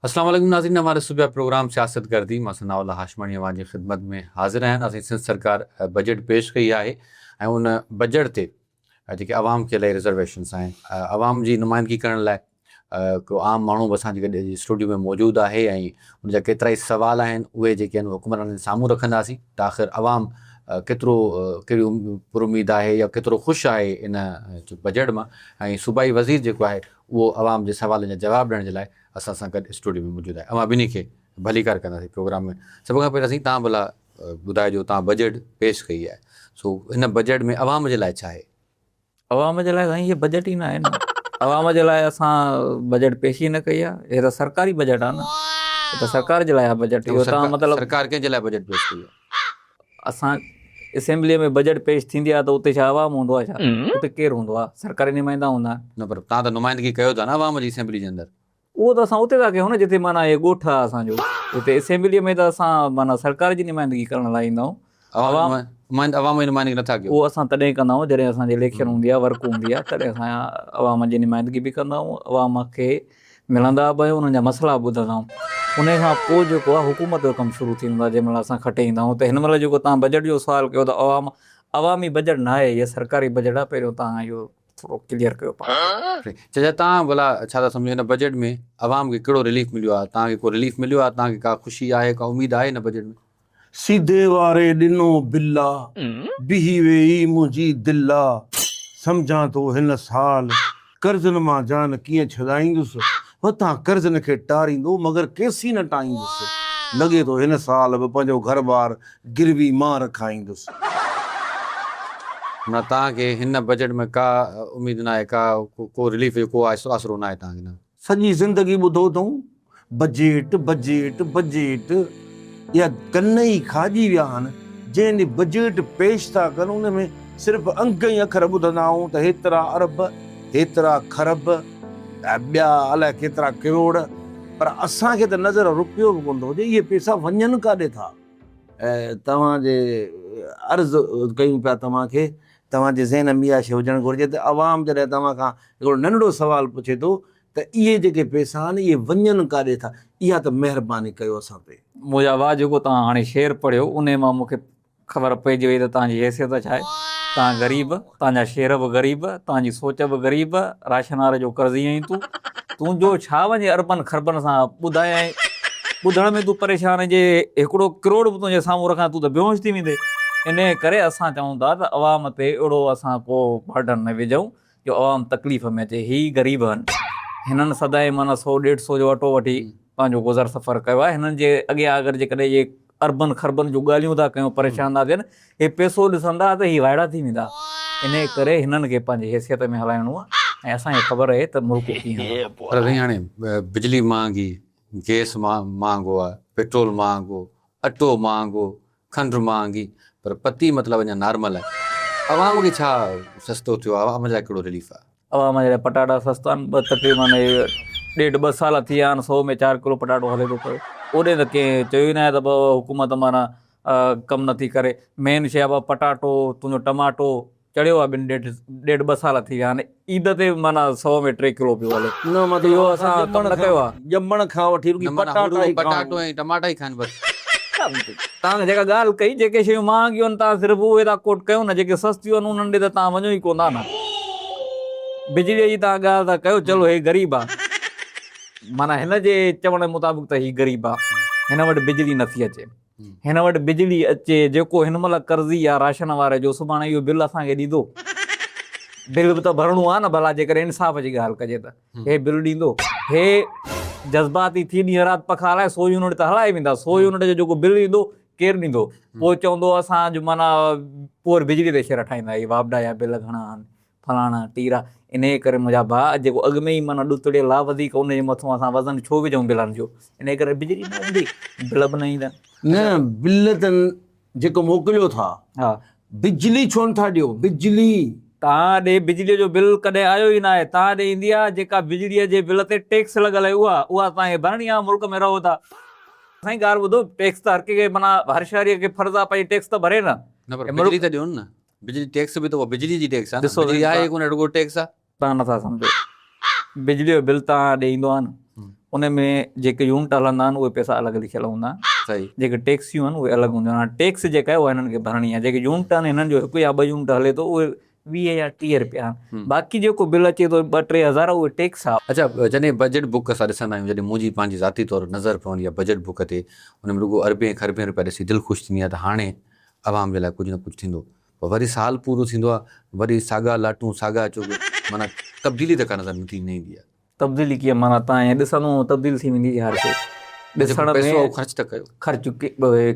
اسلام عليڪم ناظرين اوهان ڏسو پيا پروگرام سياست گردي مان ثناء الله هاشماڻي اوهان جي خدمت ۾ حاضر آهيان اسين سنڌ سرڪار بجيٽ پيش ڪئي آهي ۽ ان بجيٽ تي جيڪي عوام کي الائي رزرويشنس آهن عوام جي نمائندگي ڪرڻ لاء ڪو عام ماڻهو به اسان جي گڏ اسٽوڊيو ۾ موجود آهي ۽ ان جا ڪيترائي سوال آهن اهي جيڪي آهن حڪمرانن جي سامهون رکنداسين ته آخر عوام ڪيترو ڪهڙي پراميد آهي يا ڪيترو خوش آهي ان بجيٽ مان ۽ صوبائي وزير جيڪو آهي اهو عوام جي سوالن جا جواب ڏيڻ جي لاء اسان سان گڏ اسٽوڊيو ۾ موجود آهي اوهان ٻنهي کي ڀليڪار ڪنداسين پروگرام ۾ سڀ کان پهريان سائين تان ڀلا ٻڌائجو تان بجيٽ پيش ڪئي آهي سو ان بجيٽ ۾ عوام جي لاء ڇا آهي؟ عوام جي لاء سائين هي بجيٽ ئي ناهي نه عوام جي لاء اسان بجيٽ پيش ئي نه ڪئي آ هي ته سرڪاري بجيٽ آ نه هي ته سرڪار جي لاء آ بجيٽ اهو تان مطلب سرڪار ڪنهن جي لاء بجيٽ پيش ڪئي آ اسان اسيمبلي ۾ بجيٽ پيش ٿيندي آ ته اتي ڇا عوام هوندو آ ڇا اتي ڪير هوندو آ سرڪاري نمائندا هوندا آهن نه پر تان ته نمائندگي ڪيو ٿا نه عوام جي اسيمبلي جي اندر اهو ته اسان اتي ٿا ڪيون نه جتي معنيٰ اهي ڳوٺ آهي اسان جو اتي اسيمبليء ۾ ته اسان معنيٰ سرڪار جي نمائندگي ڪرڻ لاء ايندا آهيون. عوام نمائند عوام جي نمائندگي نٿا ڪيو. اهو اسان تڏهن ڪندا آهيون جڏهن اسان جي اليڪشن هوندي آهي ورڪ هوندي آهي تڏهن اسان عوام جي نمائندگي به ڪندا آهيون عوام کي ملندا به آهيون انهن جا مسئلا به ٻڌندا آهيون انهي کان پوء جيڪو آهي حڪومت جو ڪم شروع ٿي ويندو آهي جنهن مهل اسان کٽي ايندا آهيون ته هن مهل جيڪو توهان بجيٽ جو سوال ڪيو ته عوام عوامي بجيٽ ناهي هي سرڪاري بجيٽ آهي پهريون توهان اهو ٿورو ڪليئر ڪيو پاڻکي. چچا توهان ڀلا ڇا ٿا سمجهو هن بجيٽ ۾ عوام کي ڪهڙو رليف مليو آهي توهان کي ڪو رليف مليو آهي توهان کي ڪا خوشي آهي ڪا اميد آهي هن بجيٽ ۾. سيدي واري ڏنو بلا بيهي ويئي منهنجي دلا سمجهان ٿو هن سال قرضن مان جان ڪيئن ڇڏائيندس هتان قرضن کي ٽاريندو مگر ڪيسين نه ٽائيندس. لڳي ٿو هن سال به پنهنجو گهر بار گروي مان رکائيندس. نه توهان کي هن بجيٽ ۾ ڪا اميد ناهي ڪا ڪو رليف جو ڪو آسرو ناهي توهان کي نه. سڄي زندگي ٻڌو اٿئون بجيٽ بجيٽ بجيٽ. اها ڪنئي کاڄي ويا آهن، جنهن ڏينهن بجيٽ پيش ٿا ڪن ان ۾ صرف انڪ ۽ اکر ٻڌندا آهون ته هيترا ارب، هيترا کرب ۽ ٻيا الائي ڪيترا ڪروڙ پر اسان کي ته نظر روپيو به ڪونه ٿو اچي اهي پيسا وڃن ڪاڏي ٿا؟ توهان جي عرض ڪيون پيا توهان کي توهان جي ذهن ۾ اها شيء هجڻ گهرجي ته عوام جڏهن توهان کان هڪڙو ننڍڙو سوال پڇي ٿو ته اهي جيڪي پيسا آهن اهي وڃن ڪاڏي ٿا؟ اها ته مهرباني ڪيو اسان تي. موجا واهه جيڪو توهان هاڻي شعر پڙهيو انهي مان مون کي خبر پئجي وئي ته توهان جي حيثيت ڇا آهي. توهان غريب، توهان جا شعر به غريب، توهان جي سوچ به غريب، راشنار جو قرضي آهين تون. تون جو ڇا وڃي اربن خربن سان ٻڌايائين. ٻڌڻ ۾ تون پريشان آهين جي هڪڙو ڪروڙ به تنهنجي سامهون رکان تون ته بيهوش ٿي ويندين. انهي ڪري اسان چئون ٿا ته عوام تي اهڙو اسان ڪو برڊن نه وجهون جو عوام تڪليف ۾ اچي هي غريب هن هنن سدائين معنيٰ سو ڏيڍ سو جو اٽو وٺي پنهنجو گذر سفر ڪيو آهي هنن جي اڳيان اگر جيڪڏهن اهي اربن خربن جون ڳالهيون ٿا ڪيون پريشان ٿا ٿين هي پيسو ڏسندا ته هي وائڙا ٿي ويندا انهي ڪري هنن کي پنهنجي حيثيت ۾ هلائڻو آهي ۽ اسان کي خبر اهي ته ملڪ ڪيئن هلندو. پر سائين هاڻي بجلي مهانگي، گيس مهانگو آهي، پيٽرول مهانگو، اٽو مهانگو، کنڊ مهانگي پر پتي مطلب اڃا نارمل آهي عوام کي ڇا سستو ٿيو آهي عوام جا ڪهڙو رليف آهي. عوام جا پٽاٽا سستا آهن ٻه تقريبا ڏيڍ ٻه سال ٿي ويا آهن سو ۾ چار ڪلو پٽاٽو هلي ٿو پيو اوڏي ته ڪنهن چيو ئي ناهي ته حڪومت معنيٰ ڪم نٿي ڪري مين شي آهي پٽاٽو تنهنجو ٽماٽو چڙهيو آهي ٻن ڏيڍ ڏيڍ ٻه سال ٿي ويا آهن عيد تي معنيٰ سو ۾ ٽي ڪلو پيو هلي نه مطلب اهو اسان ڪم نه ڪيو آهي. ڄمڻ کان وٺي رڳي پٽاٽا ئي پٽاٽو ۽ ٽماٽا ئي کائن بس. توهان جيڪا ڳالهه ڪئي جيڪي شيون مهانگيون آهن توهان صرف اهي ٿا ڪوٽ ڪيو نه جيڪي سستيون آهن انهن ڏي ته توهان وڃو ئي ڪون ٿا نه بجلي جي توهان ڳالهه ٿا ڪيو چلو هي غريب آهي معنيٰ هن جي چوڻ مطابق ته هي غريب آهي هن وٽ بجلي نٿي اچي. هن وٽ بجلي اچي، جيڪو هن مهل قرضي يا راشن واري جو سڀاڻي اهو بل اسان کي ڏيندو؟ بل به ته ڀرڻو آهي نه ڀلا جيڪڏهن انصاف جي ڳالهه ڪجي ته هي بل ڏيندو؟ هي جذباتي ٿي ڏينهن رات پکا هلائي سو يونٽ ته هلائي ويندا، سو يونٽ جو جيڪو بل ايندو ڪير ڏيندو؟ پوء چوندو اسان جو معنيٰ پوئر بجلي تي شعر ٺاهيندا هي واپڊا يا بل گهڻا آهن، فلاڻا ٽيرا انهيء ڪري منهنجا ڀاء جيڪو اڳ ۾ ئي معنيٰ ڏتڙيل آ وڌيڪ ان جي مٿون اسان وزن ڇو وجهون بلن جو انهيء ڪري بجلي نه ايندي بل به نه ايندا. نه بل ته جيڪو موڪليو ٿا بجلي ڇو نه ٿا ڏيو بجلي. توهان ڏي بجليء جو بل ڪڏهن آيو ئي ناهي توهان ڏي ايندي آ جيڪا بجليء جي بل تي ٽيڪس لڳل آهي اها اها توهان کي ڀرڻي آ ملڪ ۾ رهو ٿا. سائين ڳالهه ٻڌو ٽيڪس ته هر ڪنهن کي معنيٰ هر شهريء کي فرض آ پنهنجي ٽيڪس ته ڀري نه. نه پر بجلي ته ڏيون نه. بجلي ٽيڪس به ته اها بجلي جي ٽيڪس آهي نه، بجلي آهي ئي ڪونه رڳو ٽيڪس آهي. تان نٿا سمجهو بجلي جو بل تان ڏي ايندو آهي نه ان ۾ جيڪي يونٽ هلندا آهن اهي پئسا الڳ لکيل هوندا آهن صحيح جيڪي ٽيڪسيون آهن اهي الڳ هونديون آهن ٽيڪس جيڪا آهي اها هنن کي ڀرڻي آهي جيڪي يونٽ آهن هنن جو هڪ يا ٻه يونٽ هلي ٿو اهي ويهه يا ٽيهه رپيا آهن باقي جيڪو بل اچي ٿو ٻه ٽي هزار اهي ٽيڪس آهي. اڇا جڏهن بجيٽ بوڪ اسان ڏسندا آهيون جڏهن منهنجي پنهنجي ذاتي طور نظر پوندي آهي بجيٽ بوڪ تي ان ۾ رڳو اربين کاربين رپيا ڏسي دل خوش ٿيندي آهي ته هاڻي عوام جي لاء ڪجهه نه ڪجهه ٿيندو پر وري سال پورو ٿيندو آ وري ساڳا لاٽون ساڳا چغ معنيٰ تبديلي ته ڪا نظر نه ٿي نه ايندي آ. تبديلي ڪيئن معنيٰ تان ائين ڏسندو ائين تبديل ٿي ويندي هر شي ڏسڻ ۾ پئسو آ اهو خرچ ته ڪيو. خرچ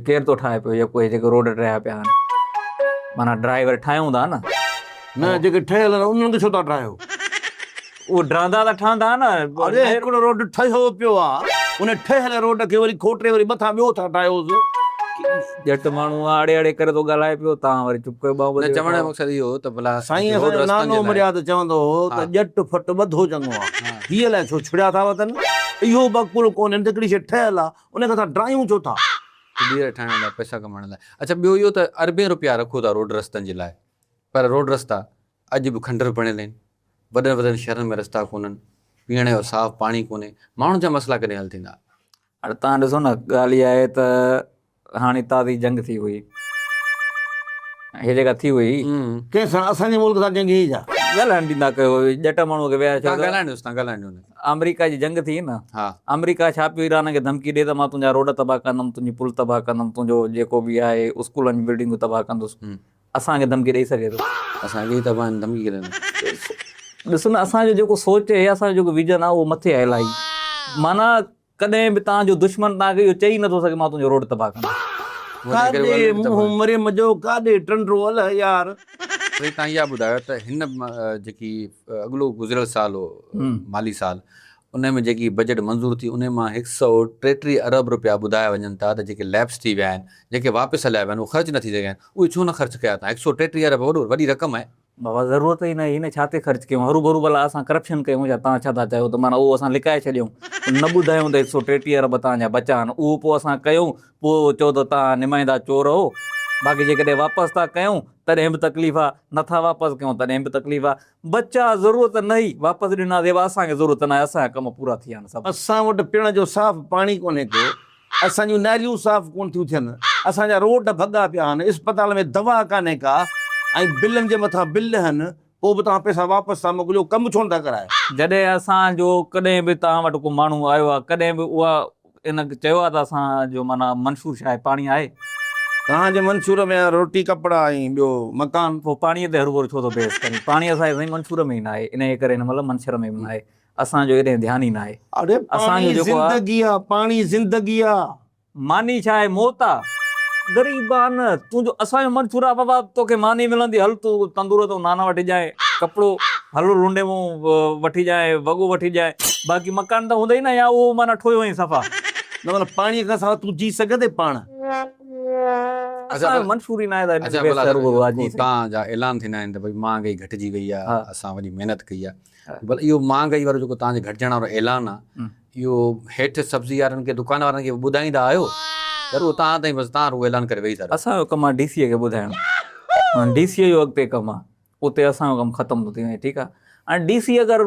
ڪير ٿو ٺاهي پيو يا ڪوهي جيڪي روڊ ٽهيا پيا آهن معنيٰ ڊرائيور ٺاهيون ٿا نه. نه جيڪي ٺهيل آهن انهن کي ڇو ٿا ٺاهيو. اهي ڊراندا ته ٺهندا نه. اڙي هڪڙو روڊ ٺهيو پيو آ. ان ٺهيل روڊ کي وري کوٽي وري مٿان ٻيو ٿا ٺاهيوس. ڄٽ ماڻهو آ اڙي اڙي ڪري ٿو ڳالهائي پيو توهان وري چپ ڪري ٻانهون ٻڌي ويٺا آهيو. نه چوڻ جو مقصد اهو هو ته ڀلا سائين اسان جو نانو مريا ته چوندو هو ته ڄٽ ڦٽ ٻڌو چڱو آ. هي الائي ڇو ڇڙيا ٿا وتن. اهو به عقل ڪونهن ته هڪڙي شيء ٺهيل آ ان کي اسان ڊراهيون ڇو ٿا. ٻيهر ٺاهڻ لاء پئسا ڪمائڻ لاء. اڇا ٻيو اهو ته اربين روپيا رکو ٿا روڊ رستن جي لاء پر روڊ رستا اڄ به کنڊر بڻيل آهن، وڏن وڏن شهرن ۾ رستا ڪونهن، پيئڻ جو صاف پاڻي ڪونهي، ماڻهن جا مسئلا ڪڏهن حل ٿيندا؟ هاڻي توهان ڏسو نه ڳالهه اها آهي ته هاڻي تازي جنگ ٿي هئي هي جيڪا ٿي هئي. ڪنهن سان؟ اسان جي ملڪ سان جنگ هئي ڇا؟ ڳالهائڻ ڏيندا ڪيو ڄٽ ماڻهو کي ويا ڇو ته آمريڪا جي جنگ ٿي نه آمريڪا ڇا پيو ايران کي ڌمڪي ڏي ته مان تنهنجا روڊ تباهه ڪندم تنهنجي پل تباهه ڪندم تنهنجو جيڪو به آهي اسڪولن جون بلڊنگون تباهه ڪندس اسان کي ڌمڪي ڏئي سگهي ٿو. اسان کي ئي ته ڀائن ڌمڪي ڪرين ٿا. ڏس نه اسان جو جيڪو سوچ اهي اسان جو جيڪو ويزن آهي اهو مٿي آهي الائي معنيٰ ڪڏهن به توهان جو دشمن توهان کي اهو چئي نه ٿو سگهي مان تنهنجو روڊ تباهه ڪندس. ڪاڏي منهن مريم جو ڪاڏي ٽنڊو اله يار. سائين تهان اها ٻڌايو ته هن جيڪي اڳلو گذريل سال هو مالي سال انهي ۾ جيڪي بجيٽ منظور ٿي انهي مان هڪ سئو ٽيٽيهه ارب رپيا ٻڌايا وڃن ٿا ته جيڪي ليپس ٿي ويا آهن جيڪي واپس هليا ويا آهن اهي خرچ نٿي ٿي سگهن اهي ڇو نه خرچ ڪيا اتان هڪ سئو ٽيٽيهه ارب وڏو وڏي رقم آهي. بابا ضرورت ئي نه هئي نه ڇا تي خرچ ڪيون هرو ڀرو ڀلا اسان ڪرپشن ڪيون ڇا تان ڇا ٿا چاهيو ته معنيٰ اهو اسان لڪائي ڇڏيون نه ٻڌايون ته هڪ سئو ٽيٽيهه ارب تان جا بچا آهن اهو پوء اسان ڪيون پوء چئو ته تان نمائندا چور اهو باقي جيڪڏهن واپس ٿا ڪيون تڏهن به تڪليف آهي نه ٿا واپس ڪيون تڏهن به تڪليف آهي بچا ضرورت نهي واپس ڏنا زيبا اسان کي ضرورت ناهي اسان جا ڪم پورا ٿي ويا آهن سڀ. اسان وٽ پيڻ جو صاف پاڻي ڪونهي ڪو اسان جون ناليون صاف ڪونه ٿيون ٿين اسان جا روڊ ڀڳا پيا آهن اسپتال ۾ دوا ڪانهي ڪا ۽ بلن جي مٿان بل ڏهن پوء به توهان پئسا واپس ٿا موڪليو ڪم ڇو نٿا ڪرايو. جڏهن اسان جو ڪڏهن به توهان وٽ ڪو ماڻهو آيو آهي ڪڏهن به اها ان چيو آهي ته اسان جو معنيٰ منشور شاهه پاڻي آهي. توهان جي منشور ۾ آهي روٽي، ڪپڙا ۽ ٻيو مڪان. پوء پاڻيء تي هروڀرو ڇو ٿو بحث ڪرين؟ پاڻي اسان جي سائين منشور ۾ ئي ناهي. انهيء ڪري هن مهل منشر ۾ به ناهي. اسان جو ايڏهن ڌيان ئي ناهي. اڙي پاڻي زندگي آ، پاڻي زندگي آ. معني ڇا آهي موت آ غريبان. تون جو اسان جو من ڇورا بابا توکي ماني ملندي هل تون تندور تون نان وٺي جانء ڪپڙو هل لنڊي مون وٺي جانء وڳو وٺي جانء باقي مڪان ته هوندئي نه يا اهو معنيٰ ٺوهيو هئين صفا. نه مطلب پاڻي کان سواء تون جي سگهندين پاڻ. اسان جو من ڇوري ناهي ته هن کي بيسر رڳو راڄي سگهي. تان جا اعلان ٿيندا آهن ته ڀئي مهانگائي گهٽجي وئي آهي اسان وڏي محنت ڪئي آهي بل اهو مهانگائي وارو جيڪو تان جي گهٽجڻ وارو اعلان آهي اهو هيٺ سبزي وارن کي دڪان وارن کي به ٻڌائيندا آهيو ضرور تان تائين بس تان رڳو اعلان ڪري ويهي ٿا رهو. اسان جو ڪم آ ڊي سي اي کي ٻڌائڻ مان ڊي سي اي جو اڳتي ڪم آ اتي اسان جو ڪم ختم ٿو ٿي وڃي ٺيڪ آ هاڻي ڊي سي اي اگر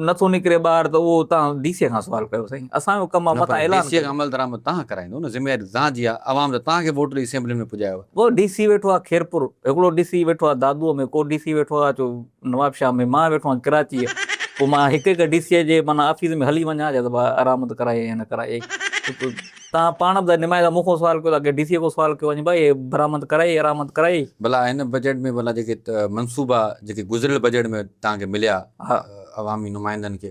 نه ٿو نڪري ٻاهر ته اهو تان ڊي سي اي کان سوال ڪيو سائين اسان جو ڪم آ نه پر متان ڊي اعلان سي اي کان عمل درآمد تان ڪرائيندو نه ذميواري تان جي آ عوام ته تان کي ووٽ ڏئي اسيمبلين ۾ پڄايو آ. ڪو ڊي سي ويٺو آ خيرپور هڪڙو ڊي سي ويٺو آ دادوء ۾ ڪو ڊي سي ويٺو آ جو نواب شاهه ۾ مان ويٺو آهيان ڪراچيء پوء مان هڪ هڪ ڊي سيء جي معنيٰ آفيس ۾ هلي وڃان جا ته ڀا ارامند ڪرائي يا نه ڪرائي توهان پاڻ به ته نمائندا مون کان سوال ڪيو ته اڳي ڊي سيء کان سوال ڪيو وڃي ڀائي برامد ڪرائي ارامد ڪرائي. ڀلا هن بجيٽ ۾ ڀلا جيڪي منصوبا جيڪي گذريل بجيٽ ۾ توهان کي مليا عوامي نمائندن کي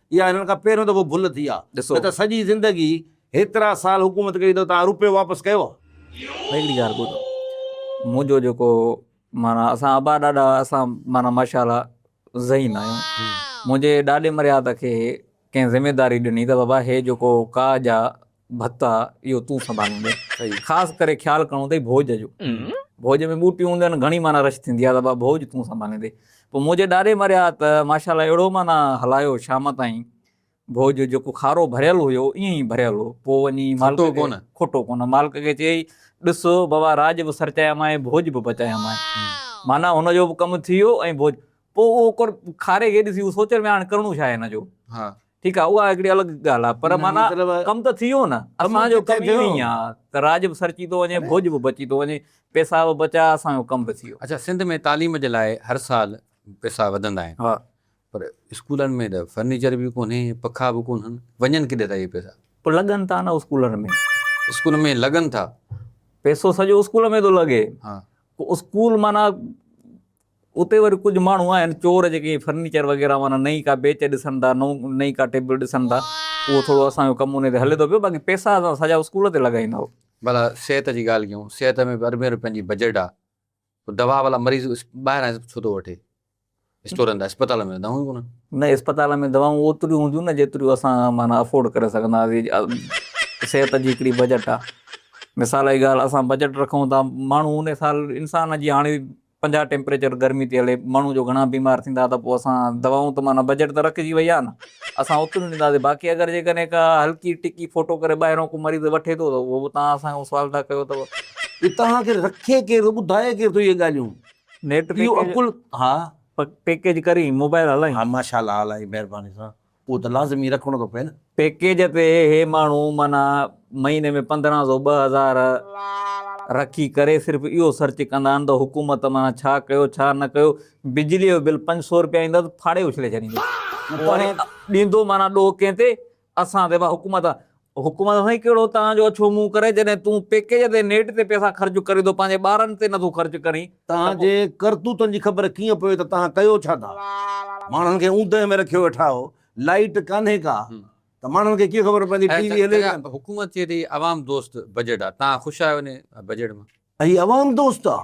اها هنن کان پهريون دفعو ڀل ٿي آ ڏسو. نه ته سڄي زندگي هيترا سال حڪومت ڪئي ته توهان روپيو واپس ڪيو آ؟ ڀاء هڪڙي ڳالهه ٻڌو منهنجو جيڪو معنيٰ اسان ابا ڏاڏا اسان معنيٰ ماشاء الله ذهين آهيون منهنجي ڏاڏي مريا ته کي ڪنهن ذميداري ڏني ته بابا هي جيڪو ڪاڄ آ ڀتا اهو تون سنڀاليندين خاص ڪري خيال ڪرڻو اٿئي ڀوڄ جو ڀوڄ ۾ ٻوٽيون هونديون آهن گهڻي معنيٰ رش ٿيندي آهي ته بابا ڀوڄ تون سنڀاليندين پوء مونجهي ڏاڏي مريا ته ماشاءالله اهڙو معنيٰ هلايو شام تائين ڀوڄ جيڪو کارو ڀريل هيو ائين ئي ڀريل هو پوء وڃي مالڪ کي کوٽو ڪونه مالڪ کي چيئي ڏس بابا راڄ به سرچايامانء ڀوڄ به پچايامانء معنيٰ هن جو به ڪم ٿي ويو ۽ ڀوڄ پوء اهو کاري کي ڏسي هو سوچڻ ۾ آيو هاڻي ڪرڻو ڇا آهي هن جو ٺيڪ آ اها هڪڙي الڳ ڳالهه آ پر معنيٰ ڪم ته ٿي ويو نه اسان جو ڪم اهو ئي آ ته راڄ به سرچي ٿو وڃي ڀوڄ به بچي ٿو وڃي پيسا به بچيا اسان جو ڪم به ٿي ويو. اڇا سنڌ ۾ تعليم جي لاء هر سال پيسا وڌندا آهن پر اسڪولن ۾ ته فرنيچر به ڪونهي پکا به ڪونهن وڃن ڪيڏي ٿا اهي پيسا. پوء لڳن ٿا نه اسڪولن ۾. اسڪول ۾ لڳن ٿا. پيسو سڄو اسڪول ۾ ٿو لڳي. اسڪول معنيٰ. اتي وري ڪجهه ماڻهو آهن چور جيڪي فرنيچر وغيره معنيٰ نئين ڪا بيچ ڏسن ٿا، نئين ڪا ٽيبل ڏسن ٿا، اهو ٿورو اسان جو ڪم ان تي هلي ٿو پيو، باقي پئسا اسان سڄا اسڪول تي لڳائيندا هئا. ڀلا صحت جي ڳالهه ڪيون، صحت ۾ به اربين روپين جي بجيٽ آ، پوء دوا ڀلا مريض ٻاهران ڇو ٿو وٺي اسٽورن تان، اسپتال ۾ دوايون ئي ڪونهن. نه اسپتال ۾ دوائون اوتريون هونديون نه جيتريون اسان معنيٰ افورڊ ڪري سگهندا هئاسين، صحت جي هڪڙي بجيٽ آ، مثال جي ڳالهه اسان بجيٽ رکون ٿا، ماڻهو ان حساب انسان جي هاڻي پنجاهه ٽيمپريچر گرمي تي هلي ماڻهو جو گهڻا بيمار ٿيندا ته پوء اسان دوائون ته معنيٰ بجيٽ ته رکجي وئي آهي نه اسان اوتريون ڏينداسين باقي اگر جيڪڏهن ڪا هلڪي ٽڪي ڦوٽو ڪري ٻاهريون ڪو مريض وٺي ٿو ته اهو به توهان اسان کان سوال ٿا ڪيو ته اهي توهان کي رکي ڪير ٿو ٻڌائي ڪير ٿو اهي ڳالهيون نيٽ اهو عقل ها. پيڪيج ڪرين موبائل هلائين. ها ماشاء الله هلائين مهرباني سان. اهو ته لازمي رکڻو ٿو پئي نه. پيڪيج تي هي ماڻهو معنيٰ مهيني ۾ پندرهن سو ٻه هزار رکي ڪري صرف اهو سرچ ڪندا آهن ته حڪومت معنيٰ ڇا ڪيو ڇا نه ڪيو بجلي جو بل پنج سو رپيا ايندو ته ڦاڙي اڇلي ڇڏيندو ڏيندو معنيٰ ڏوهه ڪنهن تي اسان تي ڀا حڪومت حڪم آهي سائين ڪهڙو تان جو اڇو منهن ڪري جڏهن تون پيڪيج تي نيٽ تي پئسا خرچ ڪرين ٿو پنهنجي ٻارن تي نٿو خرچ ڪرين ته تان جي پوء. ڪرتوتن جي خبر ڪيئن پوي ته تان ڪيو ڇا ٿا ماڻهن کي اوندهه ۾ رکيو ويٺا آهو لائيٽ ڪانهي ڪا ته ماڻهن کي ڪيئن خبر پوندي ٽي وي هلي ڪانه. حڪومت چئي ٿي عوام دوست بجيٽ آهي تان خوش آهيو انهي بجيٽ مان. هي عوام دوست آ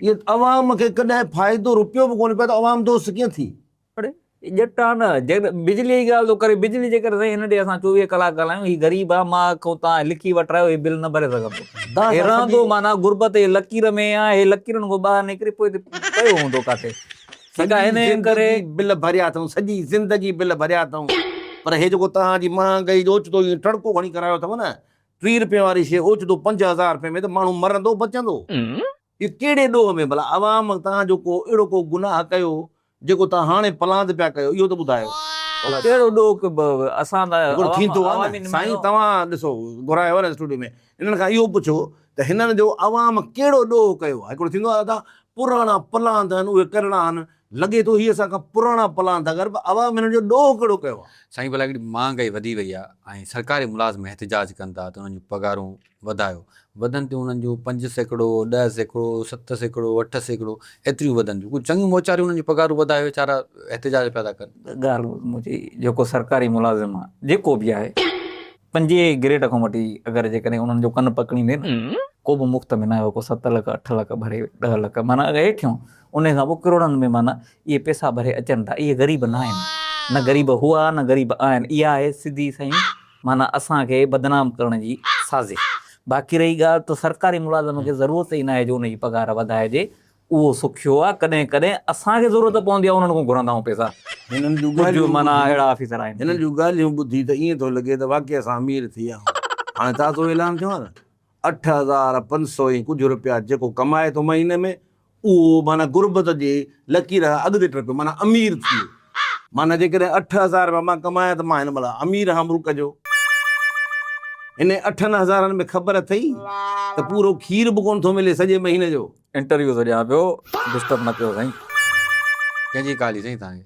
اهي عوام کي ڪڏهن فائدو روپيو به ڪونهي پيو ته عوام دوست ڪيئن ٿي. اڙي هي ڄٽ آ نه، جيڪڏهن بجليء جي ڳالهه ٿو ڪري، بجلي جي ڪري سائين هن ڏي اسان چوويهه ڪلاڪ ڳالهايون، هي غريب آ، مان کون توهان لکي وٺرايو، هي بل نه ڀري سگهندو. هي رهندو معنيٰ غربت جي لڪير ۾ آ، هي لڪيرن کان ٻاهر نڪري پوء ته پيو هوندو ڪاٿي، جيڪا هن جي ڪري. سڄي زندگي بل ڀريا اٿئون، سڄي زندگي بل ڀريا اٿئون، پر هي جيڪو توهان جي مهانگائي جو اوچتو ائين ٽڙڪو کڻي ڪرايو اٿئون نه، ٽيهه رپين واري شيء اوچتو پنج هزار رپين ۾ ته ماڻهو مرندو بچندو. اهو ڪهڙي ڏوهه ۾ ڀلا عوام توهان جو ڪو اهڙو ڪو گناهه ڪيو جيڪو توهان هاڻي پلاند پيا ڪيو اهو ته ٻڌايو ڀلا ڪهڙو ڏوهه ڪيو اسان ته عوام عوامي نمائندو آهيون. ٿيندو آهي نه سائين توهان ڏسو گهرايو آهي نه اسٽوڊيو ۾ انهن کان اهو پڇو ته هنن جو عوام ڪهڙو ڏوهه ڪيو آهي هڪڙو ٿيندو آهي ادا پراڻا پلاند آهن اهي ڪرڻا آهن لڳي ٿو هي اسان کان پراڻا پلاند ٿا ڪرن پر عوام هنن جو ڏوهه ڪهڙو ڪيو آهي. سائين ڀلا هڪڙي مهانگائي وڌي وئي آهي ۽ سرڪاري ملازم احتجاج ڪن ٿا ته انهن جون پگهارون وڌايو وڌن تيون انهن جون پنج سيڪڙو، ڏهه سيڪڙو، ست سيڪڙو، اٺ سيڪڙو ايتريون وڌن تيون ڪجهه چڱيون موچاريون انهن جون پگهارون وڌايو ويچارا احتجاج پيا ٿا ڪن. ڳالهه منهنجي جيڪو سرڪاري ملازم آهي جيڪو به آهي پنجين گريڊ کان وٺي اگر جيڪڏهن انهن جو ڪن پڪڙيندي نه ڪو به مفت ۾ ناهي ڪو ست لک اٺ لک ڀري ڏهه لک معنيٰ اگر هيٺيون انهي کان پوء ڪروڙن ۾ معنيٰ اهي پيسا ڀري اچن ٿا اهي غريب ناهن نه غريب هئا نه غريب آهن اها آهي سڌي سائين معنيٰ اسان کي بدنام ڪرڻ جي سازش. باقي رهي ڳالهه ته سرڪاري ملازم کي ضرورت ئي ناهي جو ان جي پگهار وڌائجي، اهو سکيو آهي، ڪڏهن ڪڏهن اسان کي ضرورت پوندي آهي انهن کان گهرندا آهيون پئسا. ڪجهه معنيٰ اهڙا آفيسر آهن. هنن جون ڳالهيون ٻڌي ته ائين ٿو لڳي ته واقعي اسان امير ٿي ويا آهيون. هاڻي تازو اعلان ٿيو آهي ته اٺ هزار پنج سؤ ۽ ڪجهه رپيا جيڪو ڪمائي ٿو مهيني ۾ اهو معنيٰ غربت جي لڪير کان اڳتي ٽپيو معنيٰ امير ٿي ويو. معنيٰ جيڪڏهن اٺ هزار رپيا مان ڪمايان ته مان هن مهل امير آهيان ملڪ جو. انهن اٺن هزارن ۾ خبر اٿئي ته پورو کير به ڪونه ٿو ملي سڄي مهيني جو. انٽرويو ٿو ڏيان پيو ڊسٽرب نه ڪيو سائين. ڪنهن جي ڪال هئي سائين توهان کي.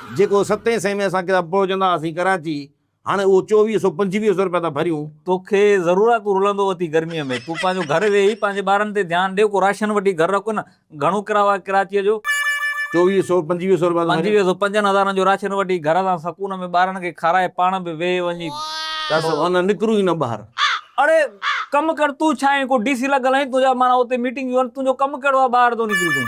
جيڪو ستين سئين ۾ اسان ڪتاب پروچندا هئاسين ڪراچي، هاڻي اهو چوويهه سئو پنجويهه سئو رپيا ٿا ڀريون. توکي ضرور آ تون رلندو اٿي گرميء ۾ تون پنهنجو گهر ويهي پنهنجي ٻارن تي ڌيان ڏي ڪو راشن وٺي گهر رک نه گهڻو ڪرايو آهي ڪراچيء جو. چوويهه سئو پنجويهه سئو رپيا ٿو ڀريان. پنجويهه سئو پنجن هزارن جو راشن وٺي گهر سان سڪون ۾ ٻارن کي کارائي پاڻ به ويهي وڃي ڪس ورنه نڪرون ئي نه ٻاهر. اڙي ڪم ڪر تون ڇا آهين ڪو ڊي سي لڳل آهين تنهنجا معنيٰ اتي ميٽنگ جون تنهنجو ڪم ڪهڙو آهي ٻاهر ٿو نڪرين تون.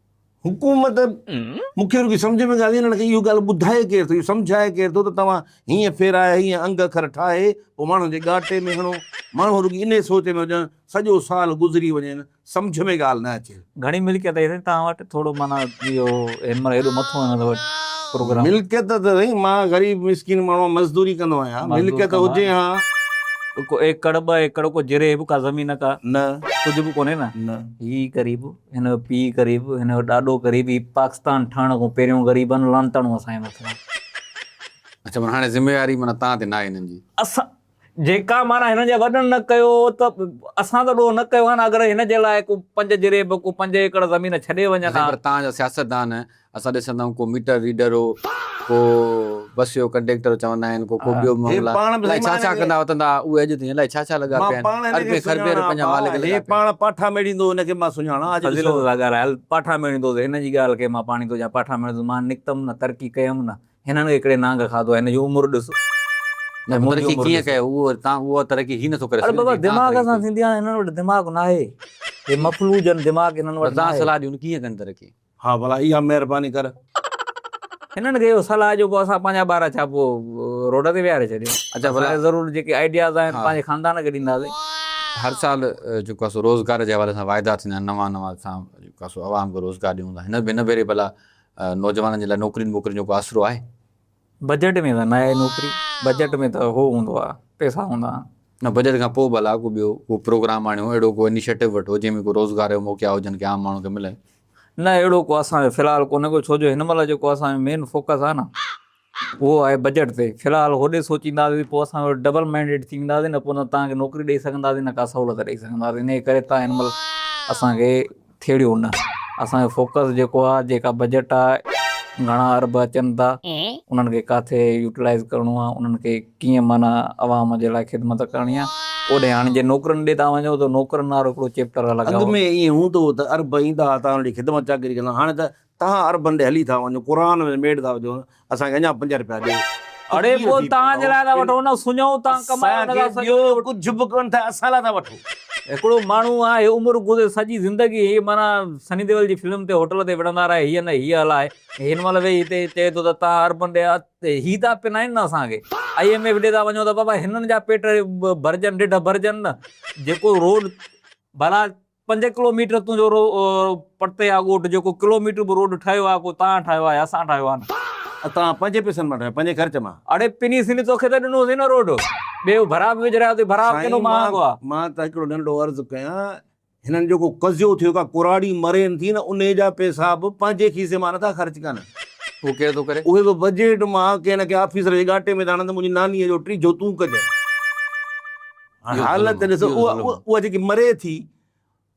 حڪومت مون کي رڳي سمجهه ۾ ڳالهه انهن کي اهو ڳالهه ٻڌائي ڪير ٿو اهو سمجهائي ڪير ٿو ته توهان هيئن ڦيرايا هيئن انگ اکر ٺاهي پوء ماڻهن جي ڳاٽي ۾ هڻو ماڻهو رڳي انهي سوچ ۾ هجن سڄو سال گذري وڃين سمجهه ۾ ڳالهه نه اچي. گهڻي ملڪيت آهي سائين توهان وٽ ٿورو معنيٰ اهو هن مهل هيڏو مٿو هن دفعي پروگرام. ملڪيت ته سائين مان غريب مسڪين ماڻهو آهيان مزدوري ڪندو آهيان ملڪيت هجي ها. ڪو ايڪڙ ٻه ايڪڙ ڪو جريب ڪا زمين ڪا نه ڪجهه به ڪونهي نه نه. هي غريب. هن جو پيء قريب هن جو ڏاڏو قريب هي پاڪستان ٺهڻ کان پهريون غريبن لعنتاڻو اسان جي مٿان. اڇا معنيٰ هاڻي ذميواري معنيٰ توهان تي ناهي هنن جي. اسان جيڪا معنيٰ هنن جي وڏن نه ڪيو ته اسان ته ڏوهه نه ڪيو آهي نه اگر هن جي لاء ڪو پنج جريب ڪو پنج ايڪڙ زمين ڇڏي وڃن ها. سائين پر توهان جا سياستدان اسان ڏسندا آهيون ڪو ميٽر ريڊر هو ڪو بس جو ڪنڊيڪٽر چوندا آهن ڪو ڪو ٻيو مئملا الاهي ڇا ڇا ڪندا وتندا هئا اهي اڄ تائين الاهي ڇا ڇا لڳا پيا آهن اربين خربين رپين جا مالڪ لڳا پيا آهن. هي پاڻ پاٺا ميڙيندو هن کي مان سڃاڻان اڄ ڏسو. فضيلت سان ڳالهايل پاٺا ميڙيندو ته هن جي ڳالهه کي مان پاڻيتو چيان پاٺا ميڙيندو مان نڪتم نه ترقي ڪيم نه هنن هڪڙي نانگ کاڌو آهي هن جي عمر ڏس ۽ منهنجي عمر ڏس. ترقي ڪيئن ڪيو تان اها ترقي هي نٿو ڪري سگهي. اڙي بابا دماغ سان ٿيندي آهي هنن وٽ دماغ ناهي هي مفلوج آهن دماغ هنن وٽ ناهي. تان صلاح ڏيون ڪيئن ڪن ترقي. ها ڀلا اها مهرباني ڪر. هنن کي اهو صلاح جو ڪو اسان پنهنجا ٻارا ڇا پوء روڊ تي ويهاري ڇڏيون اچا ڀلا اسان ضرور جيڪي آئيڊياز آهن پنهنجي خاندان کي ڏينداسين. هر سال جيڪو آسو روزگار جي حوالي سان واعدا ٿيندا آهن نوان نوان اسان جيڪو آسو عوام کي روزگار ڏيون ٿا هن ڀيري ڀلا نوجوانن جي لاء نوڪرين ٻوڪرين جو ڪو آسرو آهي. بجيٽ ۾ ته ناهي نوڪري بجيٽ ۾ ته هو هوندو آ پئسا هوندا آهن. نه بجيٽ کان پوء به الا ڪو ٻيو ڪو پروگرام آڻيو اهڙو ڪو انيشيٽو وٺو جنهن ۾ ڪو روزگار جا موقعا هجن ڪي عام ماڻهو کي ملن. نه اهڙو ڪو اسان جو في الحال ڪونهي ڪو ڇو جو هن مهل جيڪو اسان جو مين فوڪس آهي نه اهو آهي بجيٽ تي في الحال هوڏي سوچينداسين ته پوء اسان ڊبل مينڊيٽ ٿي وينداسين نه پوء نه توهان کي نوڪري ڏئي سگهنداسين نه ڪا سهولت ڏئي سگهنداسين انهي ڪري توهان هن مهل اسان کي ٿيڙيو نه اسان جو فوڪس جيڪو آ جيڪا بجيٽ آ گهڻا ارب اچن ٿا انهن کي ڪاٿي يوٽيلائز ڪرڻو آ انهن کي ڪيئن معنيٰ عوام جي لاء خدمت ڪرڻي آ اوڏي هاڻي جي نوڪرن ڏي ٿا وڃو ته نوڪرن وارو هڪڙو چيپٽر الڳ آ. اڳ ۾ ائين هوندو هو ته ارب ايندا ها تان اوڏي خدمت چاڪري ڪندا هاڻي ته تهان عربن ڏي هلي ٿا وڃو قرآن ۾ ميڙ ٿا وجهو اسان کي اڃا پنج رپيا ڏيو. اڙي پوء تهان جي لاء ٿا وٺون نه سڃو تهان ڪمايو ان کان سواء ٻيو ڪجهه به ڪونه ٿا اسان لاء ٿا وٺو. هڪڙو ماڻهو آهي عمر گذري سڄي زندگي هي معنيٰ سني ديول جي فلم تي هوٽل تي وڙهندا رهي هيء نه هيء هلاء ۽ هن مهل ويهي هتي چئي ٿو ته تهان عربن ڏي هي ٿا پنائين نه اسان کي آئي ايم ايف ڏي ٿا وڃو ته بابا هنن جا پيٽ ڀرجن ڍڍ ڀرجن نه جيڪو روڊ ڀلا پنج ڪلو ميٽر تون جو رو پرتي آ ڳوٺ جيڪو ڪلو ميٽر به روڊ ٺهيو آ ڪو تان ٺاهيو آ يا اسان ٺاهيو آ نه. تان پنهنجي پيسن مان ٺاهيو پنهنجي خرچ مان. اڙي پني سني توکي ته ڏنو هوسين نه روڊ ٻي ڀرا به وجهرايو اٿئي ڀرا به ڪيڏو مهانگو آ. مان ته هڪڙو ننڍڙو عرض ڪيان هنن جو ڪو قضيو ٿيو ڪا ڪراڙي مرين ٿي نه انهي جا پيسا به پنهنجي کيسي مان نٿا خرچ ڪن. اهو ڪير ٿو ڪري. اهي به بجيٽ مان ڪنهن نه ڪنهن آفيسر جي ڳاٽي ۾ ٿا آڻن ته منهنجي ناني جو ٽي جوتون ڪجن. هاڻ حالت ڏسو اها جيڪي مري ٿي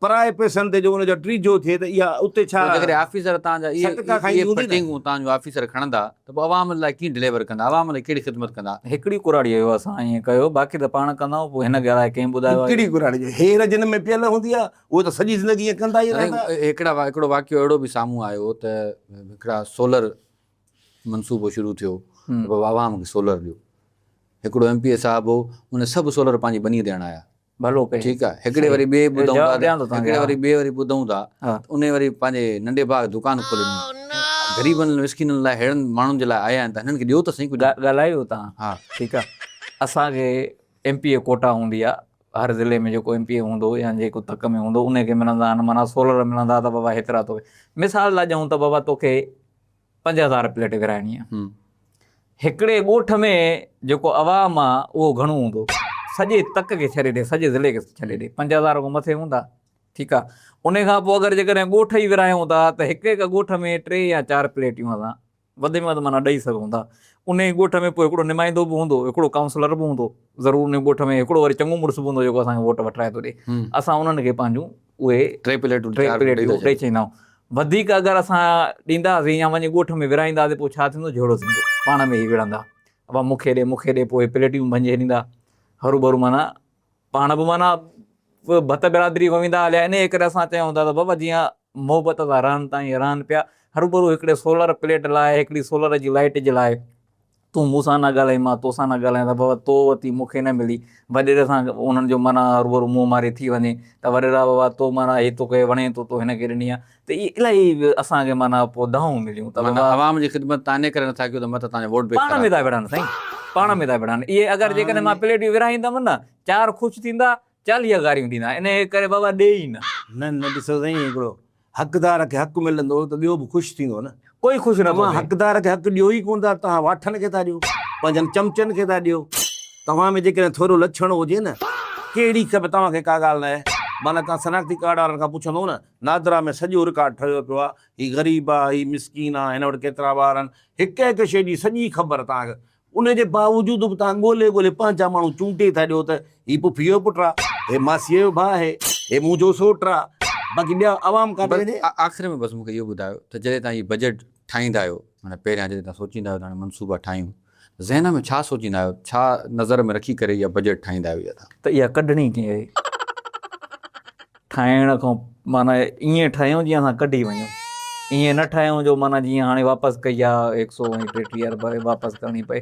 پرائي پئسن تي جو ان جو ٽريجو ٿئي ته اها اتي ڇا جيڪڏهن آفيسر تان جا اهي ڪٽنگون تان جو آفيسر کڻندا ته پوء عوام لاء ڪيئن ڊليور ڪندا عوام لاء ڪهڙي خدمت ڪندا هڪڙي ڪراڙي جو اسان ائين ڪيو باقي ته پاڻ ڪندا آهيون پوء هن کي الاء ڪنهن ٻڌايو آهي هڪڙي ڪراڙي جو هير جن ۾ پيل هوندي آهي اهو ته سڄي زندگي ائين ڪندا ئي رهندا هڪڙا هڪڙو واقعو اهڙو به سامهون آيو ته هڪڙا سولر منصوبو شروع ٿيو ته بابا عوام کي سولر ڏيو. هڪڙو ايم پي اي صاحب هو ان سڀ سولر پنهنجي ٻنيء تي هڻايا. ڀلو ڪيو. ٺيڪ آهي. هڪڙي وري ٻئي ٻڌون ٿا ته هڪڙي وري ٻئي وري ٻڌون ٿا ته انهي وري پنهنجي ننڍي ڀاء دڪان کولي ڏنو. غريبن مسڪينن لاء ههڙن ماڻهن جي لاء آيا آهن ته هنن کي ڏيو ته سهي ڪجهه. ڳالهايو تان. ها. ٺيڪ آهي. اسان کي ايم پي اي ڪوٽا هوندي آهي. هر ضلعي ۾ جيڪو ايم پي اي هوندو يا جيڪو تڪ ۾ هوندو انهي کي ملندا آهن معنيٰ سولر ملندا ته بابا هيترا توکي مثال لا ڏيون ته بابا توکي پنج هزار پليٽ ورهائڻي آ هڪڙي ڳوٺ ۾ جيڪو عوام آ اهو گهڻو هوندو سڄي تڪ کي ڇڏي ڏي سڄي ضلعي کي ڇڏي ڏي پنج هزار کان مٿي هوندا ٺيڪ آ انهي کان پوء اگر جيڪڏهن ڳوٺ ئي ورهايون ٿا ته هڪ هڪ ڳوٺ ۾ ٽي يا چار پليٽيون اسان وڌ ۾ وڌ معنيٰ ڏئي سگهون ٿا انهي ڳوٺ ۾ پوء هڪڙو نمائندو به هوندو هڪڙو ڪائونسلر به هوندو ضرور انهي ڳوٺ ۾ هڪڙو وري چڱو مڙس به هوندو جيڪو اسان کي ووٽ وٺرائي ٿو ڏي اسان انهن کي پنهنجون اهي ٽي پليٽون ٽي پليٽون ڏئي ڇڏيندائون وڌيڪ اگر اسان ڏيندا هئاسين يا وڃي ڳوٺ ۾ ورهائيندا هئاسين پوء ڇا ٿيندو جهيڙو ٿيندو پاڻ ۾ هي وڙهندا ابا مون کي ڏي مون کي ڏي پوء هي پليٽون ڀڃي ڇڏيندا هرو ڀرو معنيٰ پاڻ به معنيٰ ڀت برادري وهندا هليا ان ڪري اسان چيون ٿا ته بابا جيئن محبت سان رهن تائين رهن پيا هرو ڀرو هڪڙي سولر پليٽ لاء هڪڙي سولر جي لائٽ جي لاء تون مون سان نه ڳالهائي مان تو سان نه ڳالهايان ته بابا تو وتي مون کي نه ملي وڏيري سان انهن جو معنيٰ روبرو منهن ماري ٿي وڃي ته وڏيرا بابا تو معنيٰ هي توکي وڻي ٿو تو هن کي ڏني آهي ته اهي الاهي اسان کي معنيٰ پوء دانهون مليون ته معنيٰ عوام جي خدمت تان انهي ڪري نٿا ڪيون ته مت توهان جو ووٽ بينڪ خراب ٿئي پاڻ ۾ ٿا وڙهن سائين پاڻ ۾ ٿا وڙهن اهي اگر جيڪڏهن مان پليٽيون ورهائيندم نه چار خوش ٿيندا چاليهه گاريون ڏيندا آهن، انهيء ڪري بابا ڏي ئي نه. نه نه، ڏسو سائين، هڪڙو حقدار کي حق ملندو ته ٻيو به خوش ٿيندو نه. ڪوئي خوش نه ٿو ٿئي. توهان حقدار کي حق ڏيو ئي ڪونه ٿا، توهان واٺن کي ٿا ڏيو، پنهنجن چمچن کي ٿا ڏيو. توهان ۾ جيڪڏهن ٿورو لڇڻ هجي نه، ڪهڙي کپ توهان کي ڪا ڳالهه ناهي، معنيٰ توهان شناختي ڪارڊ وارن کان پڇندو نه، نادرا ۾ سڄو رڪارڊ ٺهيو پيو آهي، هي غريب آهي، هي مسڪين آهي، هن وٽ ڪيترا ٻار آهن، هڪ هڪ شيء جي سڄي خبر توهان کي ان جي باوجود به توهان ڳولي ڳولي پنهنجا ماڻهو چونڊي ٿا ڏيو ته هي پڦيء جو پٽ آ، هي ماسيء جو ڀاء آهي، هي منهنجو سوٽ آ، باقي ٻيا عوام ڪاڏي وڃي؟ آخر ۾ بس مون کي اهو ٻڌايو ته جڏهن توهان هي بجيٽ ٺاهيندا آهيو، معنيٰ پهريان جڏهن توهان سوچيندا آهيو ته هاڻي منصوبا ٺاهيون، ذهن ۾ ڇا سوچيندا آهيو، ڇا نظر ۾ رکي ڪري اها بجيٽ ٺاهيندا آهيو يا ته. ته اها ڪڍڻي ڪيئن آهي؟ ٺاهڻ کان معنيٰ ائين ٺاهيون جيئن اسان ڪڍي وڃون ائين نه ٺاهيون جو معنيٰ جيئن هاڻي واپس ڪئي آ هڪ سو ۽ ٽيٽيهه ارب واپس ڪرڻي پئي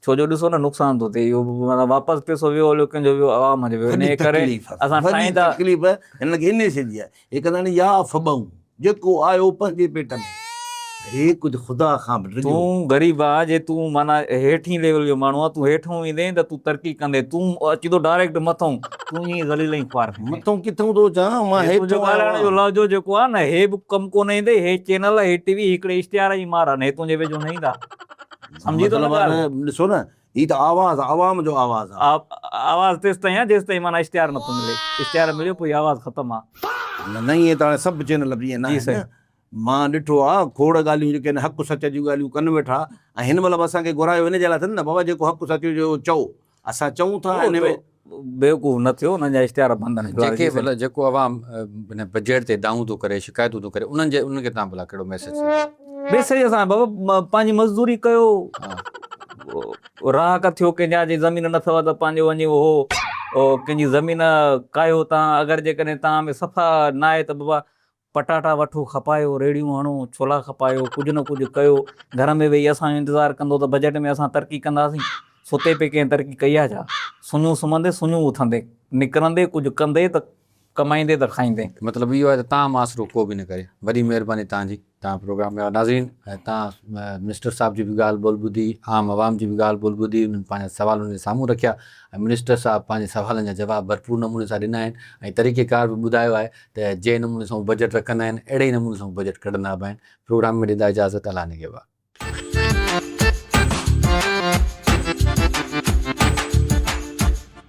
ڇو جو ڏسو نه نقصان ٿو ٿئي اهو واپس پيسو ويو هليو ڪنهن جو ويو عوام جو ويو ان ڪري اسان ٺاهيندا تڪليف هن کي انهي سيدي آهي هڪ ڌڻي يا فبئون جيڪو آيو پنهنجي پيٽ ۾. هي ڪجهه خدا کان به ڊڄو. تون غريب آهه جي تون معنيٰ هيٺين ليول جو ماڻهو آهه تون هيٺئون ايندين ته تون ترقي ڪندين تون اچين ٿو ڊائريڪٽ مٿئون تون ائين ئي ذليل ۽ خوار ٿيندين. مٿئون ڪٿئون ٿو اچان مان هيٺئون آيو آهيان. هي تنهنجو ڳالهائڻ جو لهجو جيڪو آهه نه هي به ڪم ڪونه ايندئي هي چينل هي ٽي وي هي هڪڙي اشتهار جي مار آهن هي تنهنجي ويجهو نه ايندا سمجهين ٿو نه ڳالهه. مطلب آهه نه ڏسو نه هي ته آواز عوام جو آواز آ. آواز تيستائين آ جيستائين معنيٰ اشتهار نٿو ملي اشتهار مليو پوء هي آواز ختم آ. نه نه ائين ته هاڻي سڀ چينل به ائين نه آهن نه مان ڏٺو آ کوڙ ڳالهيون جيڪي هن حق سچ جون ڳالهيون ڪن ويٺا ۽ هن مهل به اسان کي گهرايو ان جي لاء اٿن نه بابا جيڪو حق سچ هجي اهو چئو اسان چئون ٿا ۽ ان ۾ بيوقوف نه ٿيو انهن جا اشتهار بند آهن جي کي ڀلا جيڪو عوام هن بجيٽ تي دانهون ٿو ڪري شڪايتون ٿو ڪري انهن جي انهن کي تان ڀلا ڪهڙو ميسيج ڏيو. ميسيج اسان بابا پنهنجي مزدوري ڪيو رهاڪ ٿيو ڪنهن جا جي زمين نه اٿو ته پنهنجو وڃي اهو ڪنهن جي زمين ڪاهيو تان اگر جيڪڏهن تان ۾ صفا نه آهي ته بابا پٽاٽا وٺو، کپايو، ريڙهيون هڻو، ڇولا کپايو، ڪجهه نه ڪجهه ڪيو، گهر ۾ ويهي اسان جو انتظار ڪندو ته بجيٽ ۾ اسان ترقي ڪنداسين، ستي پئي ڪنهن ترقي ڪئي آهي ڇا؟ سڃون سمهندي، سڃون اٿندي، نڪرندي ڪجهه ڪندي ته ڪمائيندي ته کائيندي. مطلب اهو آهي ته تان مان سرو ڪو به نه ڪري. وڏي مهرباني توهان جي توهان پروگرام ۾ آيو ناظرين توهان منسٽر صاحب جي به ڳالهه ٻولهه ٻڌي عام عوام جي به ڳالهه ٻولهه ٻڌي انهن پنهنجا سوال انهن جي سامهون رکيا ۽ منسٽر صاحب پنهنجي سوالن جا جواب ڀرپور نموني سان ڏنا آهن ۽ طريقيڪار به ٻڌايو آهي ته جنهن نموني سان هو بجيٽ رکندا آهن اهڙي ئي نموني سان هو بجيٽ ڪڍندا به آهن. پروگرام ۾ ڏيندا اجازت الا نگهبان.